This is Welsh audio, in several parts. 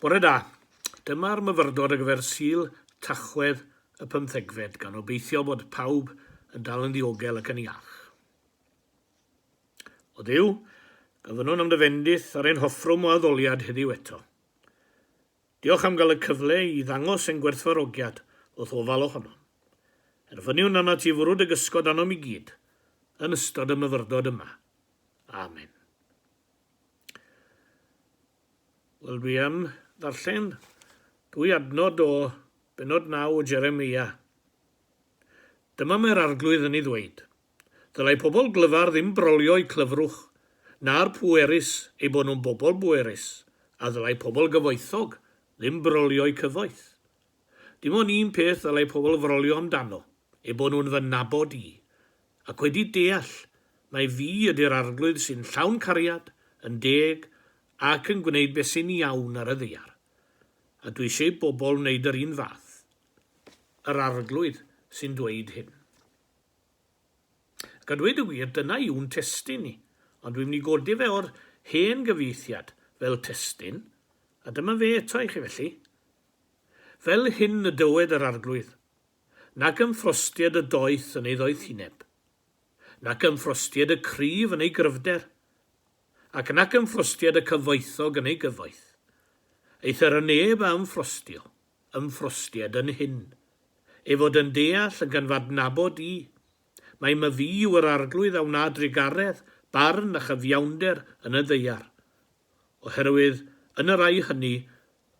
Bore da. Dyma'r myfyrdod ar gyfer Sul Tachwedd y pymthegfed, gan obeithio bod pawb yn dal yn ddiogel ac yn iach. O Dduw, gofynnwn am dy fendith ar ein hoffrwm o addoliad heddiw eto. Diolch am gael y cyfle i ddangos ein gwerthfawrogiad wrth ofal ohonom. Erfyniwn arnat ti fwrw dy gysgod arnom i gyd yn ystod y myfyrdod yma. Amen. Wel, dwi am ddarllen dwy adnod o benod naw o Jeremia. Dyma mae'r Arglwydd yn ei ddweud, Ddylai pobl glyfar ddim brolio'u clyfrwch, na'r pwerus eu bod nhw'n bobl bwerus, a ddylai pobl gyfoethog ddim brolio'u cyfoeth. Dim ond un peth ddylai pobl frolio amdano, eu bod nhw'n fy nabod i, ac wedi deall mai fi ydy'r Arglwydd sy'n llawn cariad, yn deg, ac yn gwneud beth sy'n iawn ar y ddaear. A dwi eisiau i bobl wneud yr un fath. Yr Arglwydd sy'n dweud hyn. Ac a dweud y gwir, dyna yw'n testun ni, ond dwi'n mynd i godi fe o'r hen gyfieithiad fel testun, a dyma fe eto i chi felly. Fel hyn y dywed yr Arglwydd. nac yn ffrostied y doeth yn ei ddoethineb, nac yn ffrostied y cryf yn ei gryfder, ac nac yn ffrostied y cyfoethog yn ei gyfoeth. Eithr y neb a ymffrostio, ymffrostied yn hyn, ei fod yn deall ac yn f'adnabod i, mai myfi yw yr arglwydd a wna drugaredd, barn a chyfiawnder yn y ddaear. oherwydd yn y rhai hynny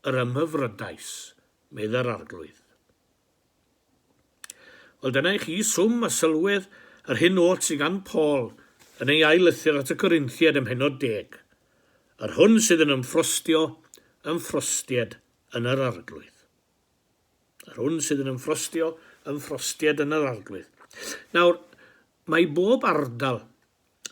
yr ymhyfrydais, meddai'r Arglwydd. Wel, dyna i chi swm a sylwedd yr hyn oll sydd gan Paul yn ei ail lythyr at y Corinthiaid ym mhennod deg, yr hwn sydd yn ymffrostio, ymffrostied yn yr Arglwydd. Yr hwn sydd yn ymffrostio, ymffrostied yn yr Arglwydd. Nawr, mae bob ardal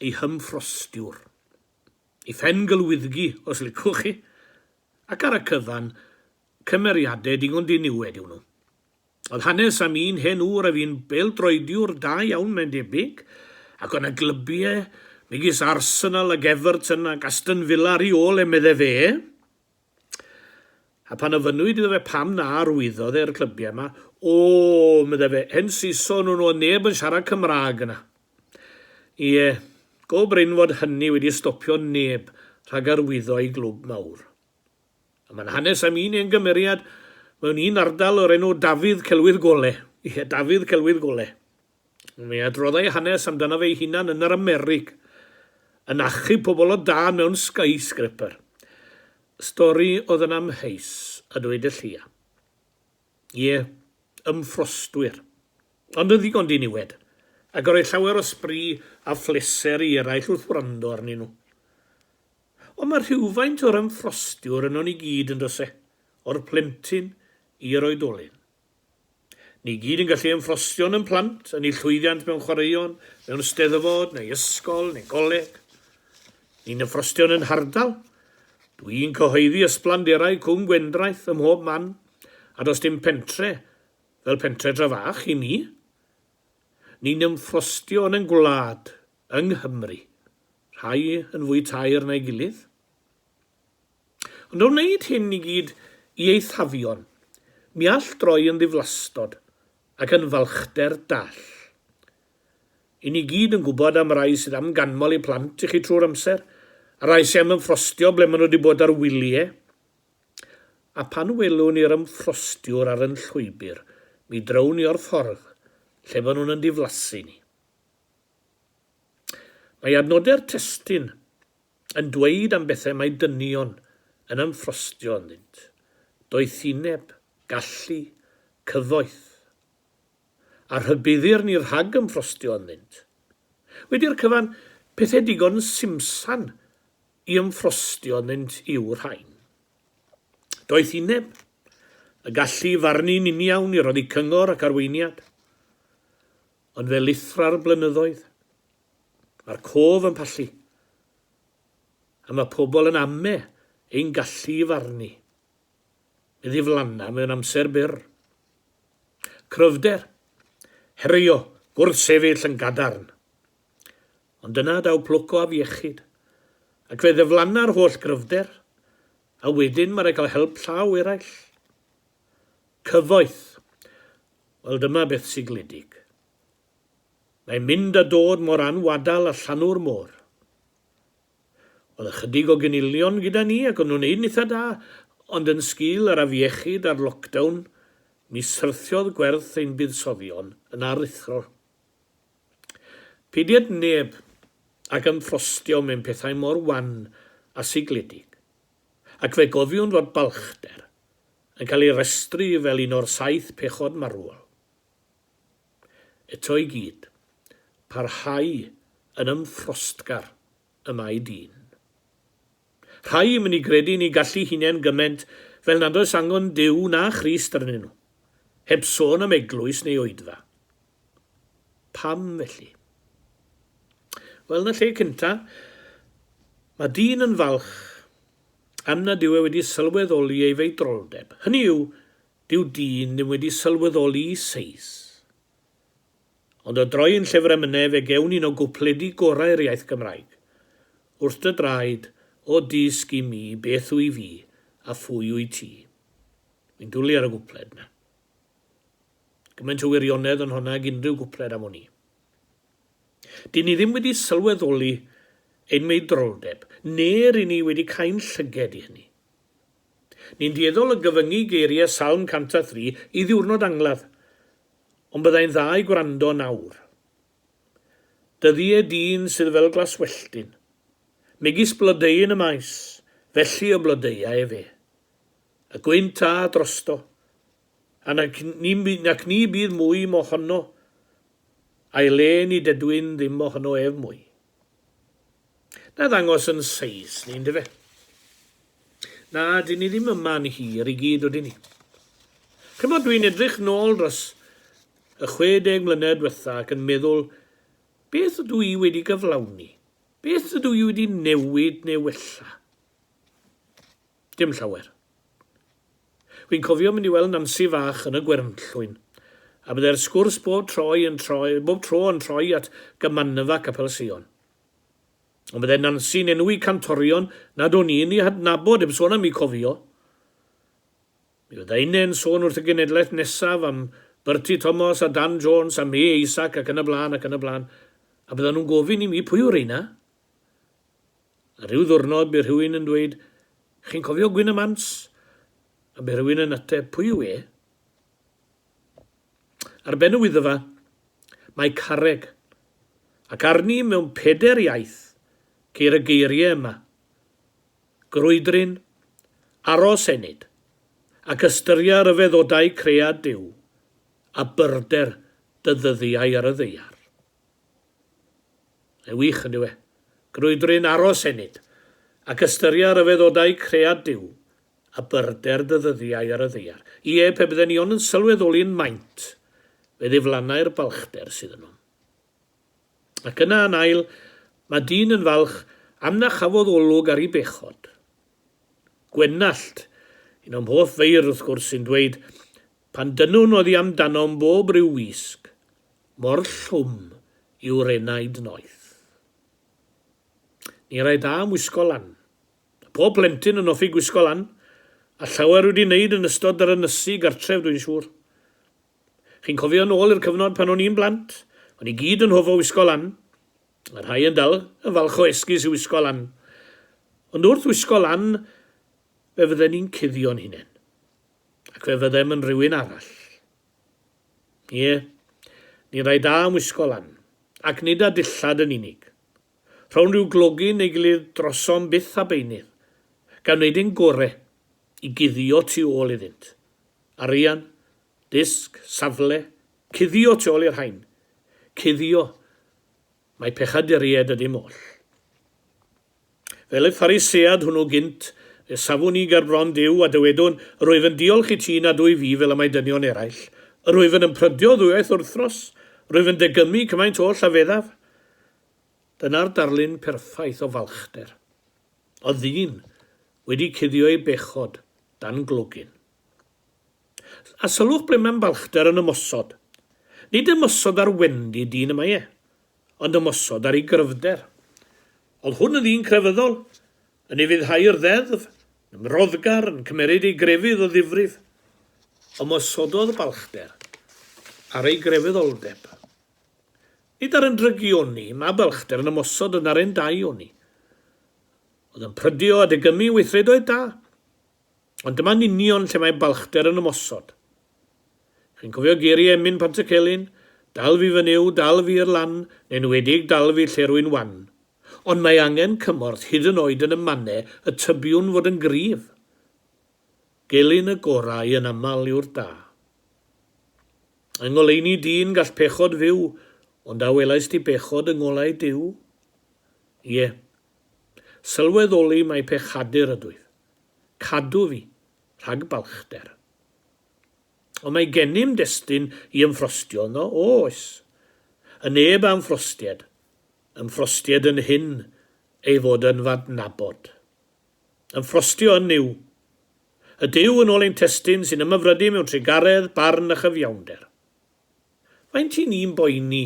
ei hymffrostiwr. i phen-glwyddgi os licwch chi, ac ar y cyfan, cymeriadau digon diniwed yw nhw. Oedd hanes am un hen ŵr a fu'n bêl-droediwr da iawn mae'n debyg, ac oedd 'na glybiau megis Arsenal ac Everton ac Aston Villa ar ei ôl e, medde fe. A phan ofynnwyd iddo fe pam na arwyddodd e'r clybiau yma, O, meddai fe, hen Saeson o'n nhw a neb yn siarad Cymraeg yna. Ie, go brin fod hynny wedi stopio neb rhag arwyddo i glwb mawr. A mae'n hanes am un hen gymeriad mewn un ardal o'r enw Dafydd Celwydd Gole. Ie, Dafydd Celwydd Gole. Mae adrodd ei hanes amdanof ei hunan yn yr Amerig, yn achub pobl o dân mewn skyscraper. Stori oedd yn amheus, a dweud y lleia. Ie, ymffrostwyr. Ond yn ddigon diniwed, ac roedd llawer o sbri a phleser i eraill wrth wrando arnyn nhw. Ond mae rhywfaint o'r ymffrostiwr yno ni gyd, yn does e? O'r plentyn i'r oedolyn. Ni gyd yn gallu ein ffrostio yn ein plant, yn eu llwyddiant mewn chwaraeon, mewn steddfod neu ysgol neu goleg. Ni'n y ffrostio yn ein hardal. Dw i'n cyhoeddi ysblanderau Cwm Gwendraeth ym mhob man, a does dim pentre fel pentre dra fach i mi. Ni'n yn ffrostio yn ein gwlad, yng Nghymru, rhai yn fwy taer na'i gilydd. Ond o wneud hyn i gyd i eithafion, mi all droi yn ddiflastod ac yn falchder dall. I ni gyd yn gwybod am rai sydd am ganmol eu plant i chi trwy'r amser, a rai sy am ymffrostio ble maen nhw wedi bod ar wyliau. A phan welwn ni'r ymffrostiwr ar yn llwybr, mi drywn ni o'r ffordd lle fo nhw'n yn diflasu ni. Mae adnodau'r testun yn dweud am bethau mae dynion yn ymffrostio ynddynt, doethineb, gallu, cyfoeth. A rhybuddir ni rhag ymffrostio ynddynt. Wedi'r cyfan, pethau digon simsan i ymffrostio ynddynt yw'r rhain. Doethineb, y gallu i farnu'n uniawn, i roddi cyngor ac arweiniad. Ond fe lithra'r blynyddoedd. Mae'r cof yn pallu. A mae pobl yn ame ein gallu i farnu. I ddiflanna mewn amser byr. Cryfder, herio, gwrthsefyll yn gadarn. Ond dyna daw plwc o afiechyd. Ac fe ddiflanna'r holl gryfder, a wedyn mae rhaid cael help llaw eraill. Cyfoeth. Wel dyma beth sigledig. Mae'n mynd a dod mor anwadal a llanw'r môr. Oedd ychydig o gynilion gyda ni ac o'n nhw'n neud yn itha da, ond yn sgil yr afiechyd a'r lockdown, mi syrthiodd gwerth ein buddsoddion yn aruthrol. Peidied neb ac ymffrostio mewn pethau mor wan a sigledig, ac fe gofiwn fod balchder yn cael ei restru fel un o'r saith pechod marwol. Eto i gyd, parhau yn ymffrostgar y mae dyn. Rhai yn mynd i gredu yn ei gallu hunain gyment fel nad oes angen Duw na Christ arnyn nhw, heb sôn am eglwys neu oedfa. Pam felly? Wel, yn y lle cynta, mae dyn yn falch am nad yw e wedi sylweddoli ei feidroldeb, hynny yw, Dyw dyn ddim wedi sylweddoli'i seis. Ond o droi'n llyfr emynau fe gewn un o gwpledi gorau'r iaith Gymraeg. Wrth dy draed, o dysg i mi beth wy fi a phwy wyt ti. Wi'n dwli ar y gwpled 'na. Gymaint o wirionedd yn honna ag unrhyw gwpled am wn i. Dyn ni ddim wedi sylweddoli ein meidroldeb, ne' ry' ni wedi cau'n llyged i hynny. Ni'n dueddol o gyfyngu geiriau Salm 103 i ddiwrnod angladd, ond byddai'n dda i gwrando nawr. Dyddie dyn sydd fel glaswelltyn, megis blodeuyn y maes, felly y blodeua efe. Y gwynt a drosto, a nac ni, nac ni bydd mwy mo honno, a'i le ni dedwyn ddim mo honno ef mwy. Na ddangos yn seis ni yndyfe? Na, dyn ni ddim yma yn hir i gyd ydyn ni. Ch'mod, dwi'n edrych nôl dros y 60 mlynedd diwetha' ac yn meddwl, beth ydw i wedi gyflawni? Beth ydw i wedi newid neu wella? Dim llawer. Wi'n cofio mynd i weld Nansi fach yn y Gwernllwyn, a byddai'r sgwrs bob troi yn troi, bob tro yn troi at gymanfa Capel Sion. Ond byddai Nansi'n enwi cantorion nad o'n i'n eu hadnabod, heb sôn am eu cofio. Mi fyddai Inne'n sôn wrth y genedlaeth nesaf am Bertie Thomas a Dan Jones a May Isaac ac yn y blaen ac yn y blaen, a byddan nhw'n gofyn i mi pwy yw reina? A rhyw ddwrnod bu rhywun yn dweud, Chi'n cofio Gwyn y Mans? A bu rhywun yn ateb, Pwy yw e? Ar ben y Wyddfa, mae carreg, ac arni mewn peder iaith ceir y geiriau yma, Grwydryn, aros ennyd, ac ystyria ryfeddodau cread Duw, a byrder dy ddyddiau ar y ddaear. Mae'n wych, yndyw e? Grwydryn aros ennyd, ac ystyria rhyfeddodau cread Duw, a byrder dy ddyddiau ar y ddaear. Ie, pe bydden ni ond yn sylweddoli'n maint, fe ddiflannai'r balchder sydd ynom. Ac yna, yn ail, mae dyn yn falch am na chafodd olwg ar ei bechod. Gwenallt, un o'm hoff feirdd, wrth gwrs, sy'n dweud, Pan dynnwn oddi amdanom bob rhyw wisg, Mor llwm yw'r enaid noeth. Ni rai da am wisgo lan. A phob plentyn yn hoffi gwisgo lan, a llawer wedi wneud yn ystod yr ynysu gartref dwi'n siŵr. Chi'n cofio yn ôl i'r cyfnod pan o'n i'n blant, o'n i gyd yn hofo wisgo lan, a rhai yn dal yn falch o esgus i wisgo lan. Ond wrth wisgo lan, fe fydden ni'n cuddio'n hunain. Ac fe fyddem yn rhywun arall. Ie, ni rai da am wisgo lan, ac nid â dillad yn unig. Rhown ryw glogi neu gilydd drosom byth a beunydd, gan wneud ein gore i guddio tu ôl iddynt. Arian, dysg, safle, cuddio tu ôl i'r rhain. Cuddio, mai pechaduriaid ydym oll. Fel y Pharisead hwnnw gynt, fe safwn ni ger bron Duw a dywedwn, Yr wyf yn diolch i ti nad wyf fi fel y mae dynion eraill. Yr wyf yn ymprydio ddwywaith wrthros. Yr wyf yn degymu cymaint oll a feddaf. Dyna'r darlun perffaith o falchder. O ddyn wedi cuddio ei bechod dan glogyn. A sylwch ble mae'n balchder yn ymosod. Nid ymosod ar wendid dyn y mae e. ond ymosod ar ei gryfder. Oedd hwn yn ddyn crefyddol, yn ufuddhau'r ddeddf, yn ymroddgar, yn cymeryd ei grefydd o ddifrif. Ymosododd balchder ar ei grefyddoldeb. Nid ar yn drygi oni, mae balchder yn ymosod yn ar ein dau oni. Oedd yn prydio a degymu weithredoedd da. Ond dyma'n union lle mae balchder yn ymosod. Chi'n cofio geiriau Emyn Pantycelyn, Dal fi fy Nuw, dal fi i'r lan, neu'n enwedig dal fi lle rwy'n wan. Ond mae angen cymorth hyd yn oed yn y mannau y tybiwn fod yn gryf. Gelyn y gorau yn aml yw'r da. Yng ngoleuni dyn gall pechod fyw, ond a welaist ti bechod yng ngolau Duw? Ie. Sylweddoli mai pechadur ydwyf. cadw fi rhag balchder. Ond mae gennym destun i ymffrostio yno, o oes. Y neb â ymffrostied, ymffrostied yn hyn ei fod yn f'adnabod. Ymffrostio yn Nuw. Y Duw yn ôl ein testun sy'n ymyfrydu mewn trugaredd, barn a chyfiawnder. Faint i ni'n boeni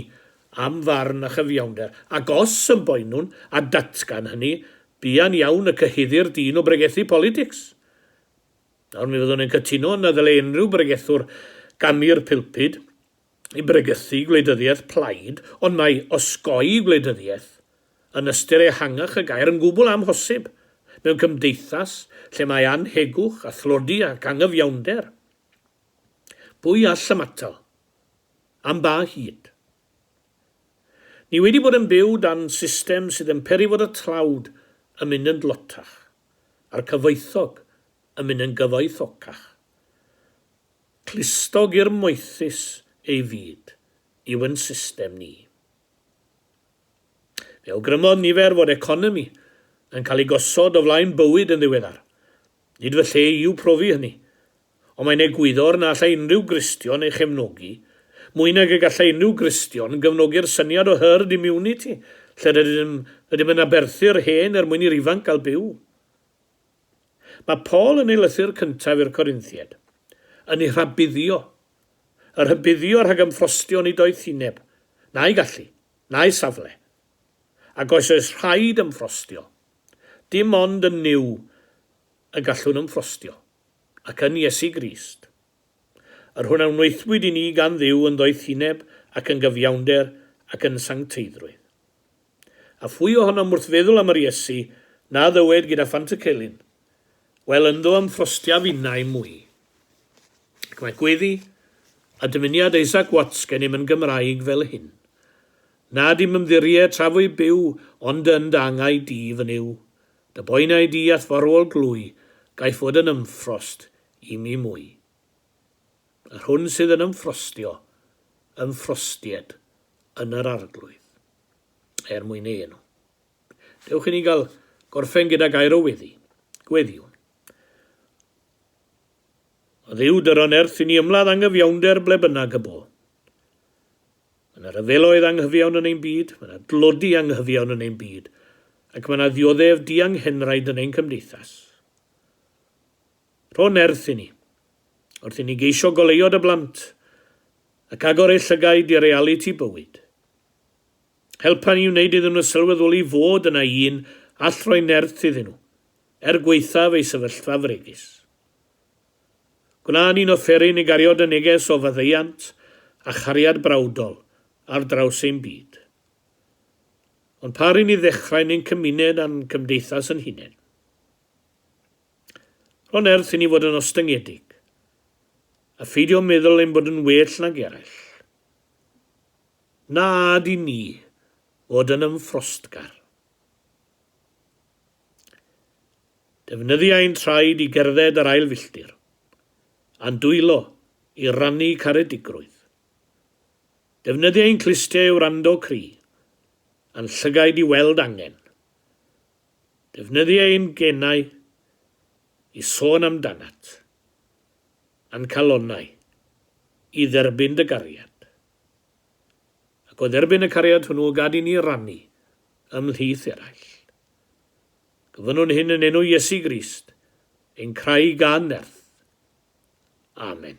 am farn a chyfiawnder, ac os yn boenwn, a datgan hynny, buan iawn y cyhuddir dyn o bregethu politics. Nawr mi fyddwn yn cytuno na ddyle unrhyw bregethwr ganu'r pilpud i bregethu gwleidyddiaeth plaid, ond mae osgoi gwleidyddiaeth, yn ystyr ehangach y gair, yn gwbl amhosib mewn cymdeithas lle mae annhegwch a thlodi ac angyfiawnder. Pwy all ymatal? Am ba hyd? Ni wedi bod yn byw dan system sydd yn peri fod y tlawd yn mynd yn dlotach, a'r cyfoethog yn mynd yn gyfoethocach. Clustog i'r moethus ei fyd yw yn system ni. Fe awgrymodd nifer fod economi yn cael ei gosod o flaen bywyd yn ddiweddar. Nid fy lle i yw profi hynny. Ond mae'n egwyddor na allai unrhyw Gristion ei chefnogi, mwy nag y gallai unrhyw Gristion gefnogi'r syniad o herd immunity lle rydym, rydym yn aberthu'r hen er mwyn i'r ifanc gael byw. Mae Paul yn ei lythyr cyntaf i'r Corinthiaid, yn eu rhabuddio, y rhybuddio rhag ymffrostio yn eu doethineb, na'u gallu, na'u safle. Ac os oes rhaid ymffrostio, Dim ond yn Nuw y gallwn ymffrostio, ac yn Iesu Grist. Yr hwn a wnaethpwyd i ni gan Dduw yn ddoethineb ac yn gyfiawnder ac yn sancteiddrwydd. A phwy ohonom wrth feddwl am yr Iesu na ddywed gyda phant y celyn, Wel, ynddo ymffrostiaf innau mwy. Ac mae gweddi a dymuniad Isaac Watts gennym yn Gymraeg fel hyn, Na dim ymddirie tra fwy byw, ond yn dy angau di fy nyw. Dy boenau di a'th farwol glwy, gaiff fod yn ymffrost i mi mwy. Yr hwn sydd yn ymffrostio, ymffrostied yn yr Arglwydd. Er mwyn ei enw. Dewch i ni gael gorffen gyda gair o weddi, gweddiwn. O Dduw, dyron erth i ni ymladd angyfiawnder ble bynnag y bo. Mae yna ryfeloedd anghyfiawn yn ein byd, mae yna dlodi anghyfiawn yn ein byd, ac mae yna ddioddef dianghenraid yn ein cymdeithas. Rho nerth i ni, wrth i ni geisio goleuo dy blant ac agor eu llygaid i realiti bywyd. Helpa ni wneud iddyn nhw sylweddoli fod yna un all roi nerth iddyn nhw, er gwaethaf ei sefyllfa fregus. Gwna'n un offeryn i gario dy neges o faddeuant a chariad brawdol ar draws ein byd. Ond pa ry'n ni ddechrau'n ein cymuned a'n cymdeithas yn hunain? Rho nerth i ni fod yn ostyngedig, a pheidio meddwl ein bod yn well nag eraill. Na ad i ni fod yn ymffrostgar. Defnyddia ein traed i gerdded yr ail filltir, a'n dwylo i rannu caredigrwydd. Defnyddia ein clustiau i wrando cri, a'n llygaid i weld angen. Defnyddia ein genau i sôn amdanat, a'n calonnau i dderbyn dy gariad. Ac o dderbyn y cariad hwnnw gad i ni rannu ymhlith eraill. Gofynnwn hyn yn enw Iesu Grist, ein Craig a Nerth. Amen.